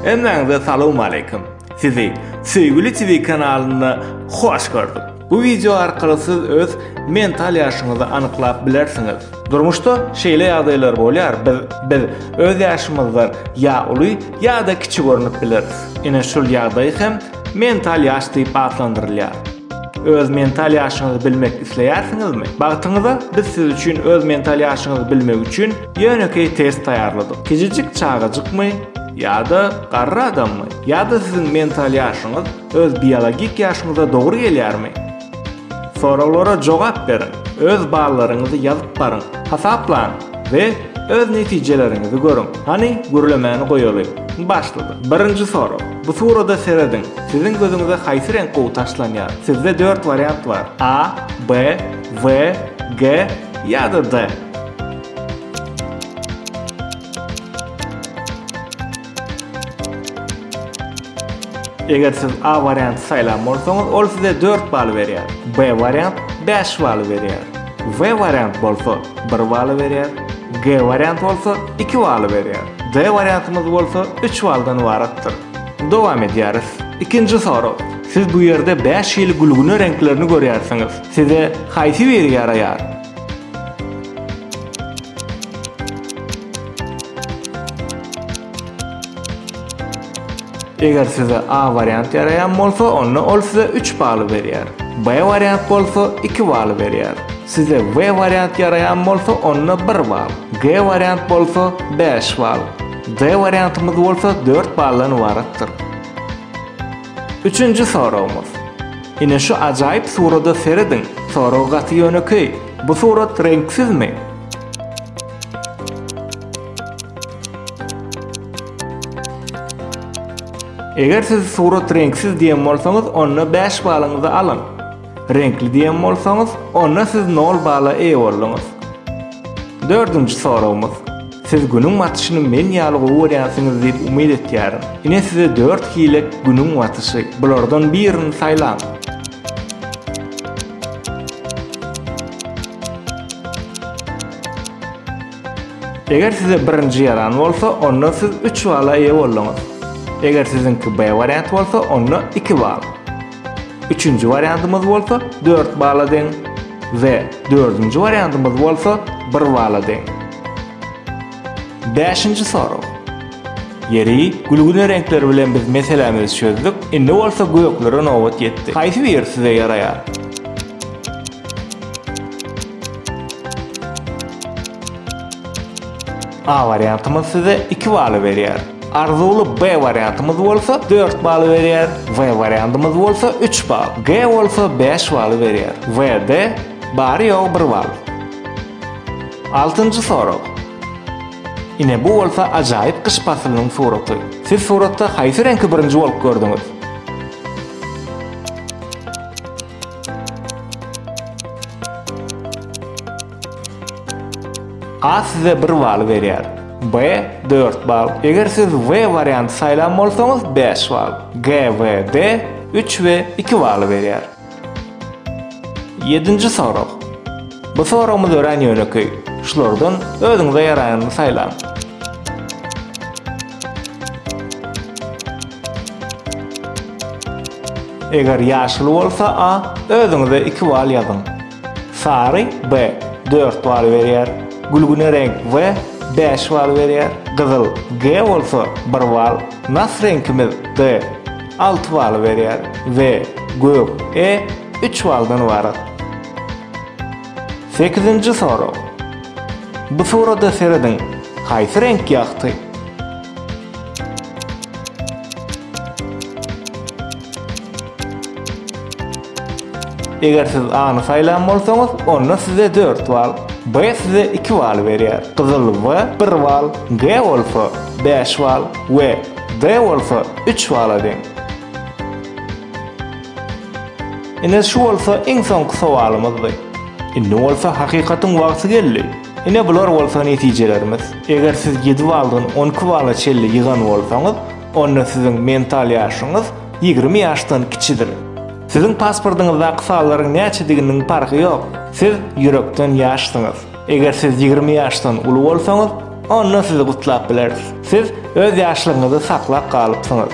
Hemmäňize salowmaleýkim. Sizi Söýgüli TV kanalynda hoş gördük. Bu wideo arkaly siz öz mental ýaşyňyzy anyklap bilersiňiz. Durmuşda şeýle ýagdaýlar bolýar, biz biz öz ýaşymyzdan ýa uly ýa-da kiçi görnüp bileris. Ine şul ýagdaý hem mental ýaş diýip atlandyrylýar. Öz mental ýaşyňyzy bilmek isleýärsiňizmi? Bagtyňyza biz siz üçin öz mental ýaşyňyzy bilmek üçin ýönekeý test taýýarladyk. Kijijik çagajykmy ýa-da garry adammy? Ýa-da siziň mental ýaşyňyz Öz biologik ýaşyňyza dogry gelýärmi? Soraglara jogap beriň, öz ballaryňyzy ýazyp baryň, hasaplaň we öz netijeleriňizi görüň. Hany, gürlemäni goýaly. Başlady. Birinji sorag. Bu surada serediň. Siziň gözüňize haýsy reňk gowy taşlanýar? Sizde dört wariant bar. A, B, W, G ýa-da D. Eger siz A warianty saýlan bolsaňyz, ol size dört bal berýär. B wariant bäş bal berýär. W wariant bolsa bir bal berýär. G wariant bolsa iki bal berýär. D wariantymyz bolsa üç baldan ybaratdyr. Dowam edýäris. Ikinji sorag. Siz bu ýerde bäş hili gülgüne reňklerini görýärsiňiz. Size haýsy biri ýaraýar? Eger size A wariant ýaraýan bolsa, onda ol size üç baly berýär. B wariant bolsa, iki baly berýär. Size W wariant ýaraýan bolsa, onda bir bal. G wariant bolsa, bäş bal. D wariantymyz bolsa dört baldan ybaratdyr. Üçünji soragymyz. Ine şu ajaýyp surada serediň. Sorag gaty ýönekeý. Bu surat reňksizmi? Eger siz surat reňksiz diýen bolsaňyz, onda bäş balyňyzy alyň. Reňkli diýen bolsaňyz, onda siz nol bala eýe bolduňyz. Dördünji soragymyz. Siz Günüň batyşyny men ýaly gowy görýänsiňiz diýip umyt etýärin. Ine size dört hile Günüň batyşy. Bulardan birini saýlaň. Eger size birinji ýaran bolsa, onda siz üç bala eýe bolduňyz. Eger siziňki B wariant bolsa, onda iki bal. Üçünji wariantymyz bolsa dört bala deň we dördünji wariantymyz bolsa bir bala deň. Bäşinji sorag. Ýeri, gülgüne reňkleri bilen biz meselämizi çözdük, indi bolsa göklere nobat ýetdi. Haýsy biri size ýaraýar? A wariantymyz size iki baly berýär. Arzuwly B wariantymyz bolsa dört baly berýär. W wariantymyz bolsa üç bal. G bolsa bäş baly berýär. WD, Bary-ýogy bir bal. Altynjy sorag. Ine bu bolsa ajaýyp gyş paslynyň suraty. Siz suratda haýsy reňki birinji bolup gördüňiz? A size bir bal berýär. B dört bal. Eger siz W warianty saýlan bolsaňyz, bäş bal. G, W, D üç we iki baly berýär. Ýedinji sorag. Bu soragymyz örän ýönekeý. Şulardan özüňize ýaraýanyny saýlaň. Eger ýaşyl bolsa A, özüňize iki bal ýazyň. Sary, B, dört bal berýär. Gülgüne reňk, W, bäş bal berýär. Gyzyl, G, bolsa, bir bal. Nas reňkimiz, D, alty bal berýär. W, gök, E, üç baldan ybarat. Sekizinji sorag. Bu surada serediň, haýsy reňk ýagty? Eger siz A-ny saýlan bolsaňyz, onda size dört bal, B size iki bal berýär. Gyzyl W bir bal, G bolsa, bäş bal we D bolsa, üç bala deň. Ine, şu bolsa iň soňky sowalymyzdy. Indi bolsa hakykatyň wagty geldi. Ine, bular bolsa netijelerimiz. Eger siz ýedi baldan on iki bala çenli ýygan bolsaňyz, Onda siziň mental ýaşyňyz ýigrimi ýaşdan kiçidir. Siziň pasportyňyzdaky sanlaryň näçediginiň parhy ýok, siz ýürekden ýaşsyňyz. Eger siz ýigrimi ýaşdan uly bolsaňyz, onda sizi gutlap bileris. Siz öz ýaşlygyňyzy saklap galypsyňyz.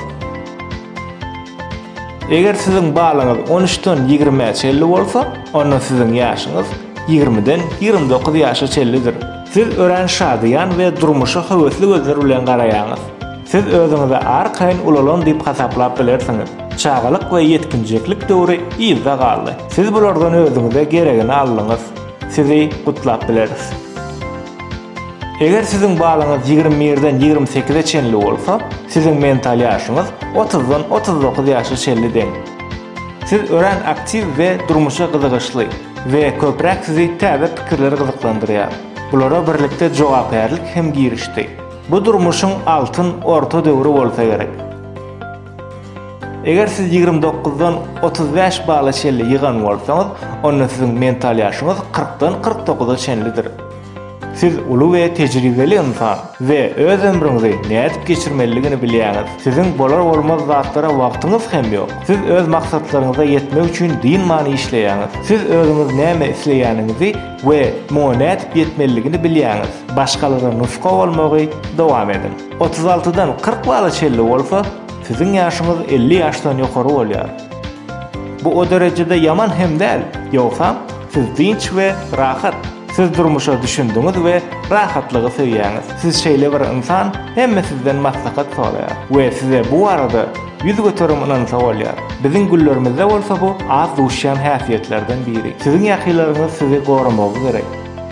Eger siziň balyňyz on üçden ýigrimä çenli bolsa, onda siziň ýaşyňyz ýigrimiden ýigrimi dokuz ýaşa çenlidir. Siz örän şadyýan we durmuşa höwesli gözler bilen garaýaňyz. Siz özüňizi arkaýyn ulalan diýip hasaplap bilersiňiz. Çagalyk we ýetginjeklik döwri yzda galdy. Siz bulardan özüňize geregini aldyňyz. Sizi gutlap bileris. Eger siziň balyňyz ýigrimi birden ýigrimi sekize çenli bolsa, siziň mental ýaşyňyz otuzdan otuz dokuz ýaşa çenli deň. Siz örän aktiw we durmuşa gyzygyşly we köpräk sizi täze pikirler gyzyklandyrýar. Bulara birlikde jogapkärlik hem girişdi. Bu durmuşyň altyn orta döwri bolsa gerek. Eger siz ýigrimi dokuzdan otuz bäş bala çenli ýygan bolsaňyz, onda siziň mental ýaşyňyz kyrkdan kyrk dokuza çenlidir. Siz uly we tejribeli ynsan we öz ömrüňizi nädip geçirmelidigini bilýäňiz. Siziň bolar-bolmaz zatlara wagtyňyz hem ýok. Siz öz maksatlaryňyza ýetmek üçin dynman işleýäňiz. Siz özüňiz näme isleýäniňizi we muňa nädip ýetmelidigini bilýäňiz, başgalara nusga bolmagy dowam ediň. Otuz altydan kyrk bala çenli bolsa, siziň ýaşyňyz elli ýaşdan ýokary bolýar. Bu o derejede ýaman hem däl, ýogsam, siz dynç we rahat. Siz durmuşa düşündiňiz we rahatlygy söýýäňiz. Siz şeýle bir ynsan, hemme sizden maslahat soraýar we size bu barada Ýüz göterim ynansa bolýar. Biziň güllerimizde bolsa bu az duşýan häsiýetlerden biri. Siziň ýakylaryňyz sizi goramagy gerek.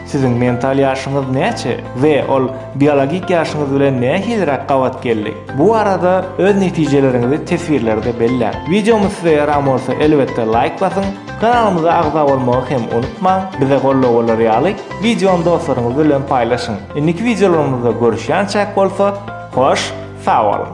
Siziň mental ýaşyňyz näçe we ol biologik ýaşyňyz bilen nähiliräk gabat geldi? Bu barada öz netijeleriňizi teswirlerde belläň. Wideomyz size ýaran bolsa elbetde laýk basyň, kanalymyza agza bolmagy hem unutmaň, bize goldaw bolar ýaly wideony dostlaryňyz bilen paýlaşyň. Indiki wideolarymyzda görüşýänçäk bolsa hoş sag boluň.